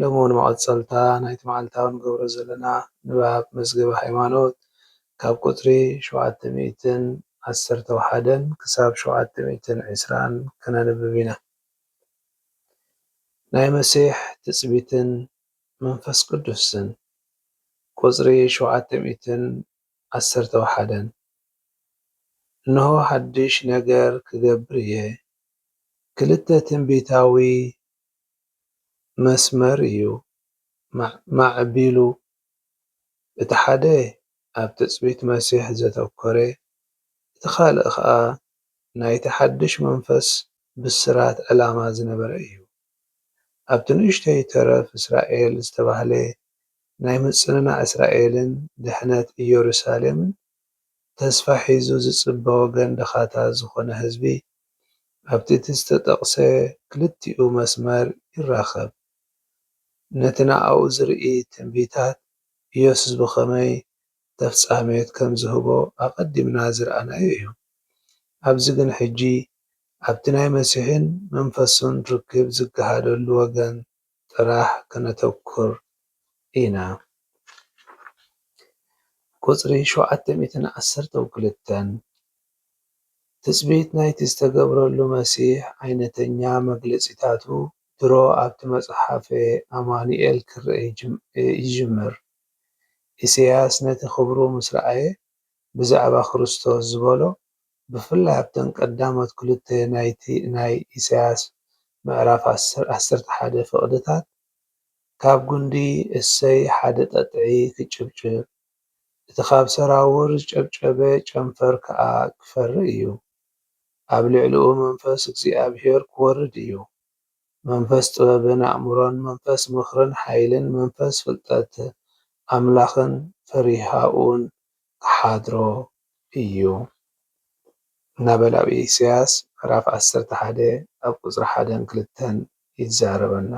ሎሚ ውን መቐጸልታ ናይቲ መዓልታዊ ንገብሮ ዘለና ንባብ መዝገበ ሃይማኖት ካብ ቁጽሪ ሸውዓተ ሚእትን ዓሰርተው ሓደን ክሳብ ሸውዓተ ሚእትን ዕስራን ከነንብብ ኢና። ናይ መሲሕ ትጽቢትን መንፈስ ቅዱስን፣ ቁጽሪ ሸውዓተ ሚእትን ዓሰርተው ሓደን፣ እንሆ ሓድሽ ነገር ክገብር እየ፣ ክልተ ትንቢታዊ መስመር እዩ ማዕቢሉ፣ እቲ ሓደ ኣብ ትጽቢት መሲሕ ዘተኰረ፣ እቲ ኻልእ ኸኣ ናይቲ ሓድሽ መንፈስ ብስራት ዕላማ ዝነበረ እዩ። ኣብቲ ንእሽቶይ ተረፍ እስራኤል ዝተባህለ ናይ ምጽንናዕ እስራኤልን ድሕነት ኢየሩሳሌምን ተስፋ ሒዙ ዝጽበ ወገን ድኻታት ዝኾነ ህዝቢ ኣብቲ እቲ ዝተጠቕሰ ክልቲኡ መስመር ይራኸብ። ነቲ ንኣኡ ዝርኢ ትንቢታት ኢየሱስ ብኸመይ ተፍጻሜት ከም ዝህቦ ኣቐዲምና ዝረኣናዮ እዩ። ኣብዚ ግን ሕጂ ኣብቲ ናይ መሲሕን መንፈሱን ርክብ ዝገሃደሉ ወገን ጥራሕ ከነተኩር ኢና። ቁጽሪ ሸውዓተ ሚእትን ዓሰርተው ክልተን፣ ትጽቢት ናይቲ ዝተገብረሉ መሲሕ ዓይነተኛ መግለጺታቱ ድሮ ኣብቲ መጽሓፈ ኣማኑኤል ክርኣ ይጅምር። ኢሳይያስ ነቲ ክብሩ ምስ ረኣየ ብዛዕባ ክርስቶስ ዝበሎ ብፍላይ ኣብተን ቀዳሞት ክልተ ናይቲ ናይ ኢሳያስ ምዕራፍ ዓሰርተ ሓደ ፍቕድታት፣ ካብ ጉንዲ እሰይ ሓደ ጠጥዒ ክጭብጭብ፣ እቲ ካብ ሰራውር ዝጨብጨበ ጨንፈር ከኣ ክፈሪ እዩ። ኣብ ልዕሊኡ መንፈስ እግዚኣብሔር ክወርድ እዩ፣ መንፈስ ጥበብን ኣእምሮን፣ መንፈስ ምኽርን ሓይልን፣ መንፈስ ፍልጠት ኣምላኽን ፈሪሃኡን ክሓድሮ እዩ እናበለ ኣብ ኢሳያስ ምዕራፍ ዓሰርተ ሓደ ኣብ ቁፅሪ ሓደን ክልተን ይዛረበና።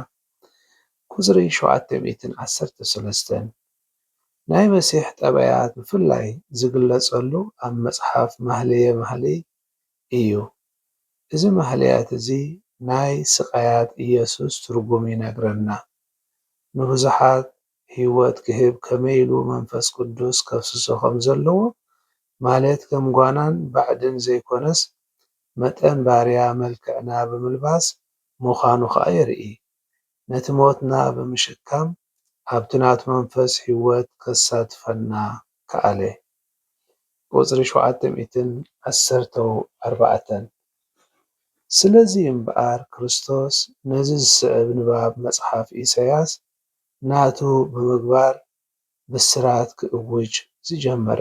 ቁፅሪ ሸውዓተ ሚእትን ዓሰርተ ሰለስተን ናይ መሲሕ ጠባያት ብፍላይ ዝግለፀሉ ኣብ መፅሓፍ ማህልየ ማህልይ እዩ። እዚ ማህልያት እዚ ናይ ስቃያት ኢየሱስ ትርጉም ይነግረና። ንብዙሓት ህይወት ክህብ ከመይ ኢሉ መንፈስ ቅዱስ ከፍስሶ ከም ዘለዎ፣ ማለት ከም ጓናን ባዕድን ዘይኰነስ፣ መጠን ባርያ መልክዕና ብምልባስ ምዃኑ ኸኣ የርኢ። ነቲ ሞትና ብምሽካም ኣብቲ ናቱ መንፈስ ህይወት ከሳትፈና ከኣለ። ቁጽሪ ሸውዓተ ሚእትን ዓሰርተ ኣርባዕተን። ስለዚ እምበኣር ክርስቶስ ነዚ ዝስዕብ ንባብ መጽሓፍ ኢሳይያስ ናቱ ብምግባር ብስራት ክእውጅ ዝጀመረ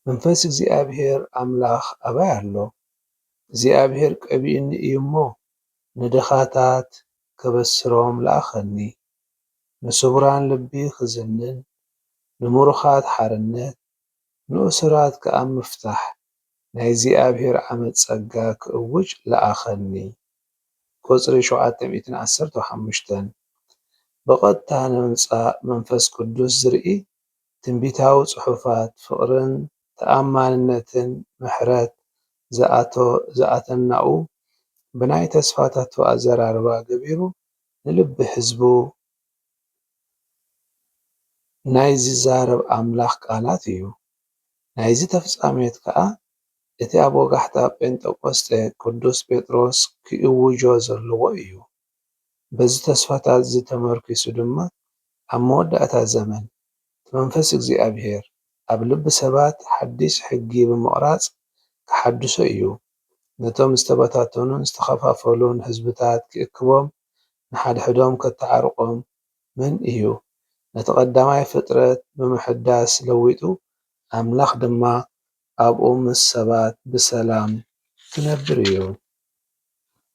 መንፈስ እግዚኣብሄር ኣምላኽ ኣባይ ኣሎ? እግዚኣብሄር ቀቢኡኒ እዩ እሞ፣ ንድኻታት ከበስሮም ለኣኸኒ፣ ንስቡራን ልቢ ኽዝንን፣ ንምሩኻት ሓርነት፣ ንእሱራት ከኣ ምፍታሕ ናይ እግዚኣብሄር ዓመት ጸጋ ክእውጅ ለኣኸኒ። ቁጽሪ ሸውዓተ ሚእትን ዓሰርተው ሓሙሽተን፣ ብቐጥታ ንምምጻእ መንፈስ ቅዱስ ዝርኢ ትንቢታዊ ጽሑፋት ፍቕርን ተኣማንነትን ምሕረት ዝኣቶ ዝኣተናኡ ብናይ ተስፋታቱ ኣዘራርባ ገቢሩ ንልቢ ህዝቡ ናይ ዚዛረብ ኣምላኽ ቃላት እዩ። ናይዚ ተፍጻሜት ከኣ እቲ ኣብ ወጋሕታ ጴንጠቆስጠ ቅዱስ ጴጥሮስ ኪእውጆ ዘለዎ እዩ። በዚ ተስፋታትዚ ተመርኲሱ ድማ ኣብ መወዳእታ ዘመን እቲ መንፈስ እግዚኣብሔር ኣብ ልቢ ሰባት ሓዲስ ሕጊ ብምቕራጽ ኪሓድሶ እዩ፣ ነቶም ዝተበታተኑን ዝተኸፋፈሉን ሕዝብታት ኪእክቦም ንሓድሕዶም ኬተዓርቖም መን እዩ? ነቲ ቐዳማይ ፍጥረት ብምሕዳስ ለዊጡ፣ ኣምላኽ ድማ ኣብኡ ምስ ሰባት ብሰላም ኪነብር እዩ።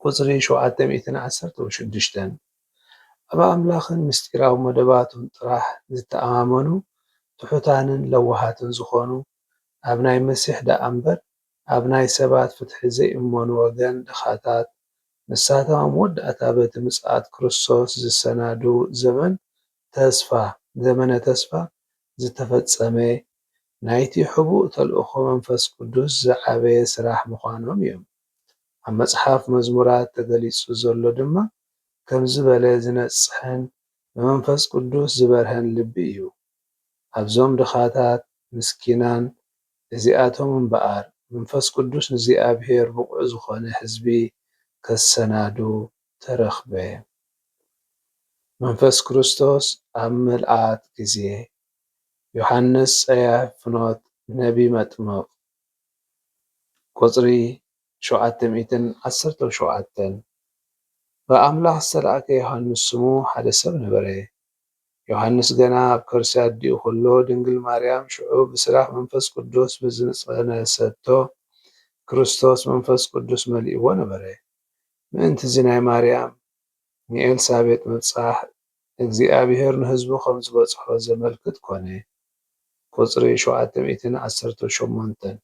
ቍጽሪ ሸውዓተ ሚእትን ዓሰርተው ሽዱሽተን። ኣብ ኣምላኽን ምስጢራዊ መደባቱን ጥራሕ ዚተኣማመኑ፣ ትሑታንን ለዋሃትን ዚዀኑ፣ ኣብ ናይ መሲሕ ደኣ እምበር፣ ኣብ ናይ ሰባት ፍትሒ ዘይእመኑ ወገን ድኻታት፣ ንሳቶም ኣብ መወዳእታ በቲ ምጽኣት ክርስቶስ ዚሰናዱ ዘመን ተስፋ፣ ዘመነ ተስፋ፣ ዝተፈጸመ፣ ናይቲ ሕቡእ ተልእኾ መንፈስ ቅዱስ ዝዓበየ ስራሕ ምዃኖም እዮም። ኣብ መጽሓፍ መዝሙራት ተገሊጹ ዘሎ ድማ ከም ዝበለ ዚነጽሕን ብመንፈስ ቅዱስ ዝበርሀን ልቢ እዩ። ኣብዞም ድኻታት ምስኪናን እዚኣቶም እምበኣር መንፈስ ቅዱስ ንእግዚኣብሔር ብቑዕ ዝኾነ ሕዝቢ ከሰናዱ ተረኽበ። መንፈስ ክርስቶስ ኣብ ምልኣት ጊዜ ዮሓንስ ጸያፍ ፍኖት ነቢ መጥምቕ ቁጽሪ ሸውዓተ ሚእትን ዓሰርተው ሸውዓተን ብኣምላኽ ዝተላእከ ዮሓንስ ስሙ ሓደ ሰብ ነበረ። ዮሃንስ ገና ኣብ ከርሲ ኣዲኡ ከሎ ድንግል ማርያም ሽዑ ብስራሕ መንፈስ ቅዱስ ብዝጸነሰቶ ክርስቶስ መንፈስ ቅዱስ መሊእዎ ነበረ። ምእንቲ'ዚ ናይ ማርያም ንኤልሳቤጥ ምብጻሕ እግዚኣብሔር ንህዝቡ ከም ዝበጽሖ ዘመልክት ኮነ። ቍጽሪ ሸውዓተ ሚእትን ዓሰርተው ሸሞንተን።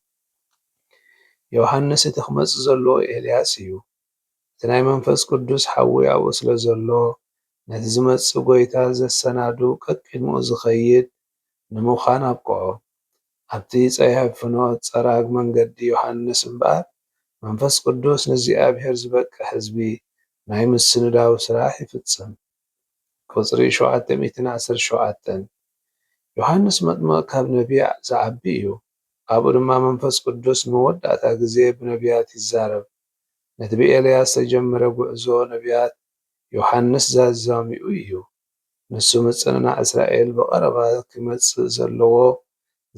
ዮሃንስ እቲ ክመጽእ ዘለዎ ኤልያስ እዩ። እቲ ናይ መንፈስ ቅዱስ ሓዊ ኣብኡ ስለ ዘሎ፣ ነቲ ዚመጽእ ጐይታ ዜሰናዱ ቀቂድምኡ ዚኸይድ ንምዃን ኣብቅዖ። ኣብቲ ጸያፍ ፍኖት ጸራግ መንገዲ ዮሃንስ እምበኣር፣ መንፈስ ቅዱስ ንእግዚኣብሄር ዚበቅዕ ህዝቢ ናይ ምስንዳው ስራሕ ይፍጽም። ቁጽሪ ሸውዓተ ሚእትን ዓሰርተ ሸውዓተን፣ ዮሃንስ መጥምቕ ካብ ነብያዕ ዚዓቢ እዩ፣ ኣብኡ ድማ መንፈስ ቅዱስ ንመወዳእታ ግዜ ብነብያት ይዛረብ። ነቲ ብኤልያስ ዝተጀምረ ጉዕዞ ነብያት ዮሓንስ ዛዛሚኡ እዩ። ንሱ ምጽንናዕ እስራኤል ብቐረባ ክመጽእ ዘለዎ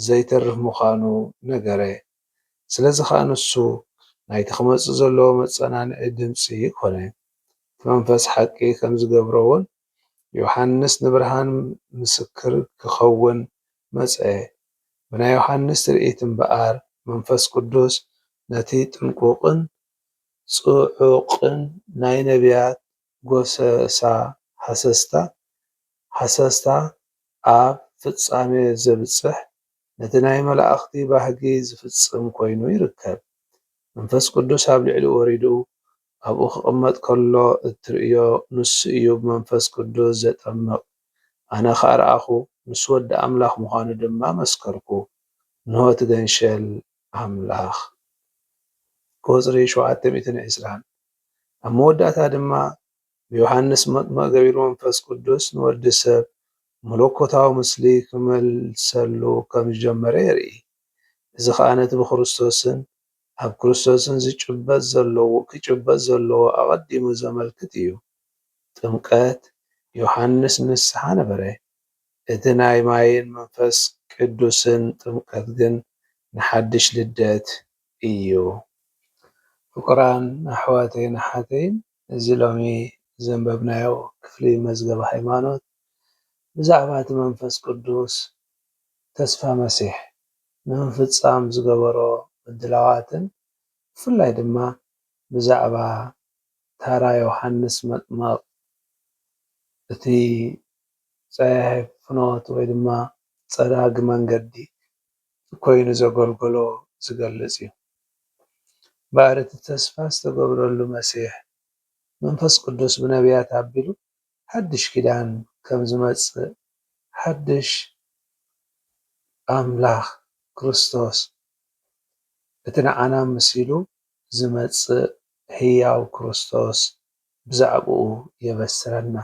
ዘይተርፍ ምዃኑ ነገረ። ስለዚ ኸኣ ንሱ ናይቲ ክመጽእ ዘለዎ መጸናንዒ ድምጺ ኮነ። እቲ መንፈስ ሓቂ ከም ዝገብሮውን ዮሓንስ ንብርሃን ምስክር ኪኸውን መጸ። ብናይ ዮሓንስ ትርኢት እምበኣር፣ መንፈስ ቅዱስ ነቲ ጥንቁቕን ጽዑቕን ናይ ነብያት ጐሰሳ ሃሰስታ፣ ሃሰስታ ኣብ ፍጻሜ ዘብጽሕ፣ ነቲ ናይ መላእኽቲ ባህጊ ዚፍጽም ኮይኑ ይርከብ። መንፈስ ቅዱስ ኣብ ልዕሊኡ ወሪዱ ኣብኡ ክቕመጥ ከሎ እትርእዮ ንሱ እዩ ብመንፈስ ቅዱስ ዘጠምቕ። ኣነ ኸኣ ረኣኹ፣ ንሱ ወዲ ኣምላኽ ምዃኑ ድማ መስከርኩ። እንሆ እቲ ገንሸል ኣምላኽ። ቁጽሪ ሸውዓተ ሚእትን ዕስራን። ኣብ መወዳእታ ድማ ብዮሃንስ መጥምቕ ገቢሩ መንፈስ ቅዱስ ንወዲ ሰብ መለኮታዊ ምስሊ ክመልሰሉ ከም ዝጀመረ የርኢ። እዚ ኸኣ ነቲ ብክርስቶስን ኣብ ክርስቶስን ዝጭበጥ ዘለዎ ክጭበጥ ዘለዎ ኣቐዲሙ ዘመልክት እዩ። ጥምቀት ዮሓንስ ንስሓ ነበረ። እቲ ናይ ማይን መንፈስ ቅዱስን ጥምቀት ግን ንሓድሽ ልደት እዩ። ፍቁራን ኣሕዋተይን ኣሓተይን እዚ ሎሚ ዘንበብናዮ ክፍሊ መዝገብ ሃይማኖት ብዛዕባ እቲ መንፈስ ቅዱስ ተስፋ መሲሕ ንምፍፃም ዝገበሮ ምድላዋትን ብፍላይ ድማ ብዛዕባ ታራ ዮሃንስ መጥምቕ እቲ ፀያሒ ፍኖት ወይ ድማ ፀራጊ መንገዲ ኮይኑ ዘገልገሎ ዝገልፅ እዩ። እምበኣር እቲ ተስፋ ዝተገብረሉ መሲሕ መንፈስ ቅዱስ ብነብያት ኣቢሉ ሓድሽ ኪዳን ከም ዝመጽእ ሓድሽ ኣምላኽ ክርስቶስ እቲ ንዓና መሲሉ ዝመጽእ ህያው ክርስቶስ ብዛዕባኡ የበስረና።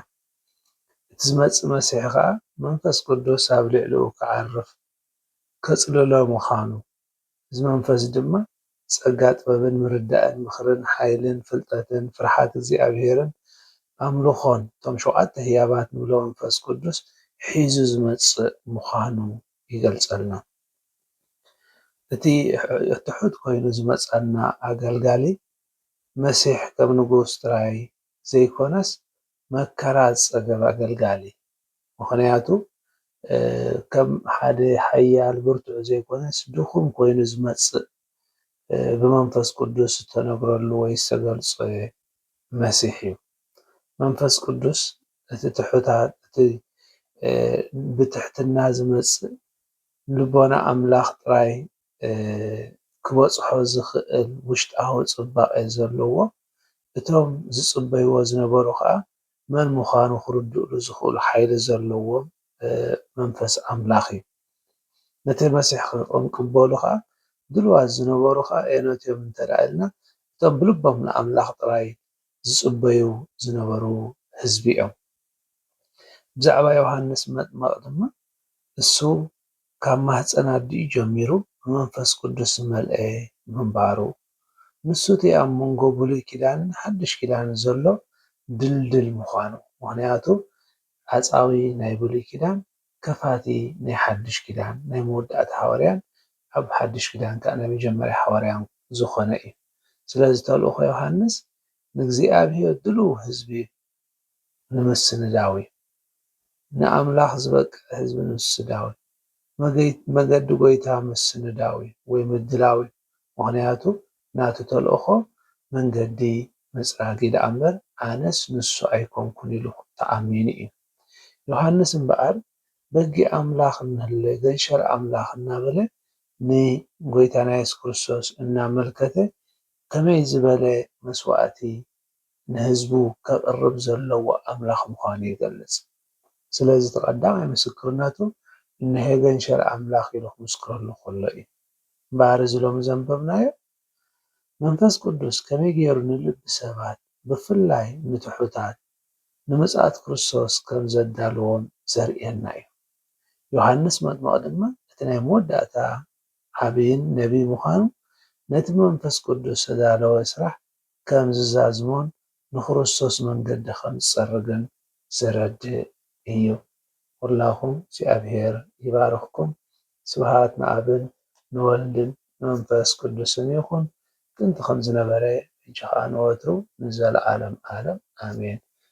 እቲ ዝመጽእ መሲሕ ከኣ መንፈስ ቅዱስ ኣብ ልዕሊኡ ክዓርፍ፣ ከጽልሎ ምዃኑ እዚ መንፈስ ድማ ጸጋ ጥበብን ምርዳእን ምኽርን ሓይልን ፍልጠትን ፍርሓት እግዚኣብሔርን ኣምልኾን እቶም ሸውዓተ ህያባት ንብሎ መንፈስ ቅዱስ ሒዙ ዝመጽእ ምዃኑ ይገልጸልና። እቲ ትሑት ኮይኑ ዝመጸና ኣገልጋሊ መሲሕ ከም ንጉስ ጥራይ ዘይኮነስ መከራ ዝጸገበ ኣገልጋሊ ምኽንያቱ ከም ሓደ ሓያል ብርቱዕ ዘይኮነስ ድኹም ኮይኑ ዝመጽእ ብመንፈስ ቅዱስ ዝተነግረሉ ወይ ዝተገልጸ መሲሕ እዩ መንፈስ ቅዱስ እቲ ትሑታት እቲ ብትሕትና ዝመጽእ ንልቦና ኣምላኽ ጥራይ ክበጽሖ ዝኽእል ውሽጣዊ ጽባቐ ዘለዎ፣ እቶም ዝጽበይዎ ዝነበሩ ከኣ መን ምዃኑ ክርድኡሉ ዝኽእሉ ሓይሊ ዘለዎም መንፈስ ኣምላኽ እዩ። ነቲ መሲሕ ክንቅበሉ ከኣ ድልዋት ዝነበሩ ከኣ ኣየኖት እዮም እንተድኣ ኢልና እቶም ብልቦም ንኣምላኽ ጥራይ ዝጽበዩ ዝነበሩ ህዝቢ እዮም። ብዛዕባ ዮሃንስ መጥመቕ ድማ እሱ ካብ ማህጸን ኣዲኡ ጀሚሩ ብመንፈስ ቅዱስ ዝመልኤ ምንባሩ፣ ንሱ እቲ ኣብ መንጎ ብሉይ ኪዳንን ሓድሽ ኪዳንን ዘሎ ድልድል ምዃኑ፣ ምኽንያቱ ዓጻዊ ናይ ብሉይ ኪዳን ከፋቲ ናይ ሓድሽ ኪዳን ናይ መወዳእታ ሃዋርያን ኣብ ሓድሽ ኪዳን ከኣ ናይ መጀመርያ ሃዋርያን ዝኾነ እዩ። ስለዚ ተልእኾ ዮሃንስ ንእግዚኣብሄር ድሉው ህዝቢ ንምስንዳዊ፣ ንኣምላኽ ዝበቅዕ ህዝቢ ንምስዳዊ፣ መገዲ ጎይታ ምስንዳዊ ወይ ምድላዊ ምኽንያቱ ናቱ ተልእኾ መንገዲ ምጽራግ እዩ ደኣምበር ኣነስ ንሱ ኣይኮንኩን ኢሉ ተኣሚኑ እዩ። ዮሃንስ እምበኣር በጊዕ ኣምላኽ እንህለ ገንሸል ኣምላኽ እናበለ ንጎይታና የሱስ ክርስቶስ እናመልከተ ከመይ ዝበለ መስዋእቲ ንህዝቡ ከቕርብ ዘለዎ ኣምላኽ ምዃኑ ይገልጽ። ስለዚ እቲ ቀዳማይ ምስክርነቱ ንሄገን ሸር ኣምላኽ ኢሉ ክምስክረሉ ከሎ እዩ። እምበኣር እዚ ሎሚ ዘንበብናዮ መንፈስ ቅዱስ ከመይ ገይሩ ንልቢ ሰባት ብፍላይ ንትሑታት ንምጽኣት ክርስቶስ ከም ዘዳልዎም ዘርእየና እዩ። ዮሃንስ መጥምቕ ድማ እቲ ናይ መወዳእታ ዓቢይን ነቢይ ምዃኑ ነቲ ብመንፈስ ቅዱስ ዝተዳለወ ስራሕ ከም ዝዛዝሞን ንክርስቶስ መንገዲ ከም ዝጸርግን ዘረድእ እዩ። ኩላኩም እግዚኣብሔር ይባርክኩም ስብሃት ንኣብን ንወልድን ንመንፈስ ቅዱስን ይኩን ጥንቲ ከም ዝነበረ ሕጂ ከኣ ንወትሩ ንዘለዓለም ኣለም ኣሜን